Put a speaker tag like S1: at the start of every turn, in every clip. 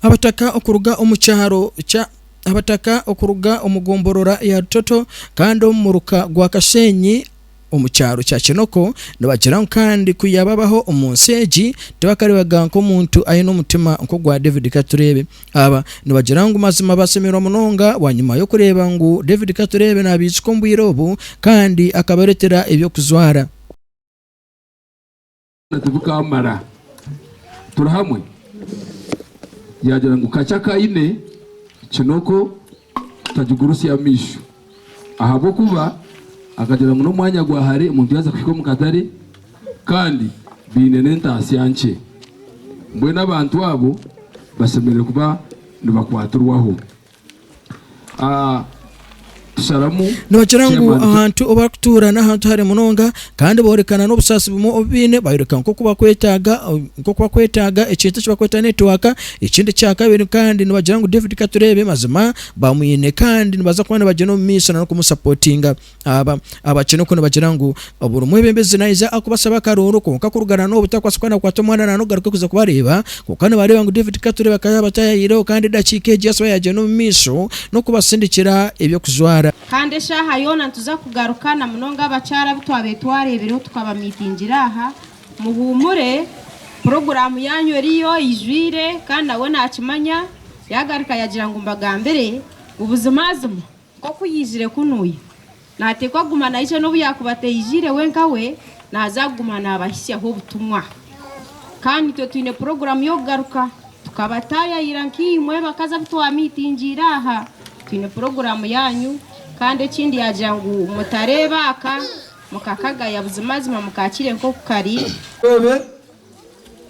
S1: Abataka okuruga omu kyaro kya Abataka okuruga omu gomborora ya Rutoto kandi omu muruka gwa Kasheenyi omu kyaro kya Kinoko nibagira ngu kandi ku yaababaho omu nsi egi tibakareebaga nk'omuntu aine omutima nk'ogwa David Katureebe. Aba nibagira ngu mazima basemerwa munonga bwanyima y'okureeba ngu David Katureebe naabaijukya omu bwire obu kandi akabareetera eby'okujwara.
S2: tibukamara turi hamwe yagira ngu kakye akaine kinoko tagigurusya amaisho ahabw'okuba akagira ngu n'omwanya gwa hare omuntu yaaza kuhika omu katare kandi baine n'entaasya nkye mbwenu abantu abo bashemereire kuba nibakwatirwaho. Ah,
S1: sharamu Nibakira ngu Chairman, ahantu obu barikutuura n'ahantu hare munonga, kandi boorekana n'obusaasi bumwe obu baine, bayoreka nk'oku bakwetaaga nk'oku bakwetaaga ekintu eki barikweta netiwaaka. Ekindi kya kabiri kandi nibagira ngu David Katureebe mazima bamwine kandi nibaza kuba nibagyenda omu maisho n'okumusapotinga. Aba abakina oku nibagira ngu buri mwebembezi naija akubasaba akarooro kwonka kurugarana n'obutakwatsa kuba nakwata omwana nana okugaruka kuza kubareeba kwonka nibareeba ngu David Kature bakaba yaba tayayireho kandi edakiika egi yasiba yagyenda omu maisho n'okubasindikira eby'okujwara. Kandi eshaaha yoona
S3: nituza kugaruka na munonga abakyara abu twabaire twareebireho tukabamiitingira aha. Muhuumure, puroguraamu yaanyu eriyo eijwire kandi nawe naakimanya. Yaagaruka yaagira ngu mbagambire ngu buzimazima Nk'oku yaizire kunuya, naateekwa kuguma naija n'obu yaakuba ataijaire wenka we, naaza kuguma naabahitsyaho obutumwa. Kandi itwe twine puroguraamu y'okugaruka. Tukabataayaayira nk'eimwe bakazi abu twamiitingiire aha, twine puroguraamu yaanyu. Kandi ekindi yaagira ngu mutareeba aka, mukakagaya, buzimazima mukaakire nk'oku kari. Beebe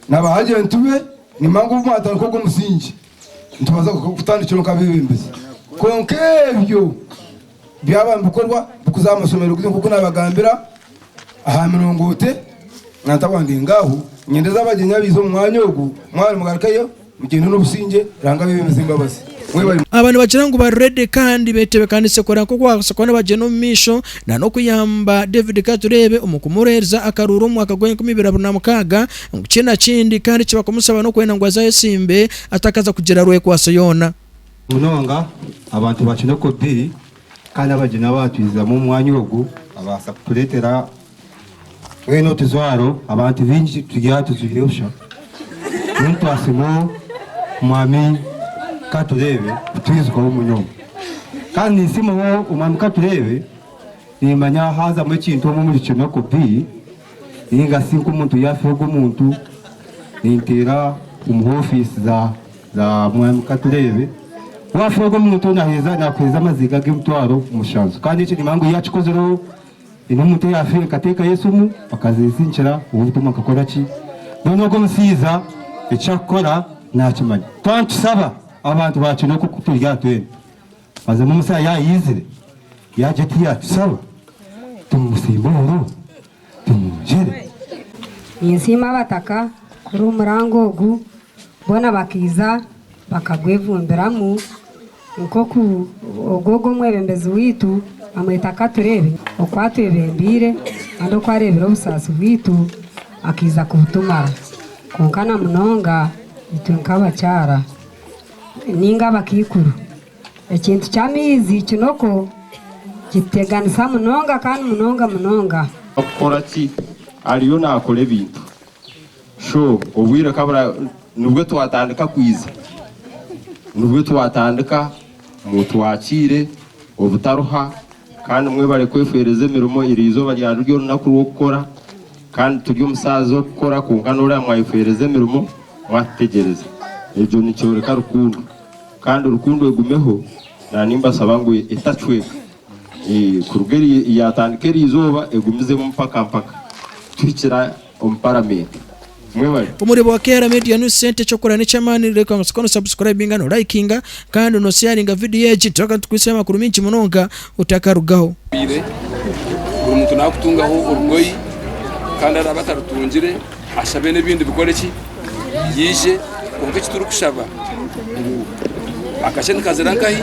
S4: na baagyentu be, nimba ngu obu mwatandika ogwo musingi, Nitubaasa kutandikiraho nk'abeebembezi, kwonka ebyo byaba nibikorwa kuza aha mashomero gaitu nk'oku naabagambira aha mirongooti na ntabwangingo aho, nyendeze abagyenyi abaize omu mwanya ogu, mwaba nimugarukayo mugyende n'obusingye Ruhanga abeebembese embabazi. Aba nibagira
S1: ngu bari ready kandi beetebekanise kureba nk'oku baabaasa kuba nibagyenda omu maisho nanokuyamba David Katureebe omu kumureebereza akaruuru omu mwaka gwa enkumi ibiri abiri na mukaaga. Ngu ki na kindi kandi eki bakumushaba n'okwenda ngu aze ayesimbe atakaza kugira rwekwaso yoona. Munonga
S5: abantu ba Kinokobbi kandi abagyenyi abaatwizizamu omu mwanya ogu babaasa kutureetera twena otujwaro abantu baingi turi aha tujwire busha. Mbwenu twasiima Omwami Katureebe kutwijukaho munonga. Kandi ninsiima Omwami Katureebe nimanya haazamu ekintu omu omuri Kinokobbi. Ninga si nk'omuntu yaafiha ogwo muntu, ninteera omu hoofiisi za za Mwami Katureebe. Waafiha ogwo muntu naheeza naakuheeza amaziga g'emitwaro mushanju. Kandi ekyo nimanya ngu yaakikozireho, haine omuntu eyaafiire nkateekayo esimu bakazinsindikira ow'obutumwa nkakora ki? Mbwenu ogwo omushaija eki arikukora naakimanya. Twaba nitusaba, abantu baakira oku turi aha twena. Mazima Musa yaayaizire, yaagye oti yaatusaba tumusiimbe omuno, tumwongyere.
S6: Ninsiima Abataka kuri omurango ogu boona bakaiza bakagwevumbiramu nk'oku ogwogu omwebembezi waitu amweta Katureebe oku atwebembeire kandi oku areebire obusaasi bwaitu akaiza kubutumara kwonka na munonga itwe nk'abakyara. ninga abakaikuru. Ekintu ky'amaizi kinoko kituteganisa munonga kandi munonga munonga. Kukora ki?
S7: Ariyo nakora ebintu. So obwire kabura nibwe twatandika kwiza, nibwe twatandika mutwakiire obutaruha kandi mwebare kwefeereza emirimo erizooba ryariryo orunaku rw'okukora. Kandi turi omusaazi w'okukora kwonka n'ori aha mwayi kuheereza emirimo mwatutegyereza. Egyo nikyoreka rukundo. Kandi rukundo egumeho na nimbashaba ngu etacweka kuruga eri yaatandika eri izooba egumizemu mpaka mpaka tuhikira omu paramenti. Mwebale. Omurimo wa KR
S1: Media ni sente eky'okukora n'eky'amaani reka ngu siko no subscribinga no likinga kandi no sharinga video egi turaaga nitukwitsyaho amakuru maingi munonga otakarugaho. Buri
S2: muntu naakutungaho orugoyi, kandi araabe atarutungire, ashabe n'ebindi bikore ki? Yaije. Kwonka eki turikushaba ngu, Akashe nikazira nkahi?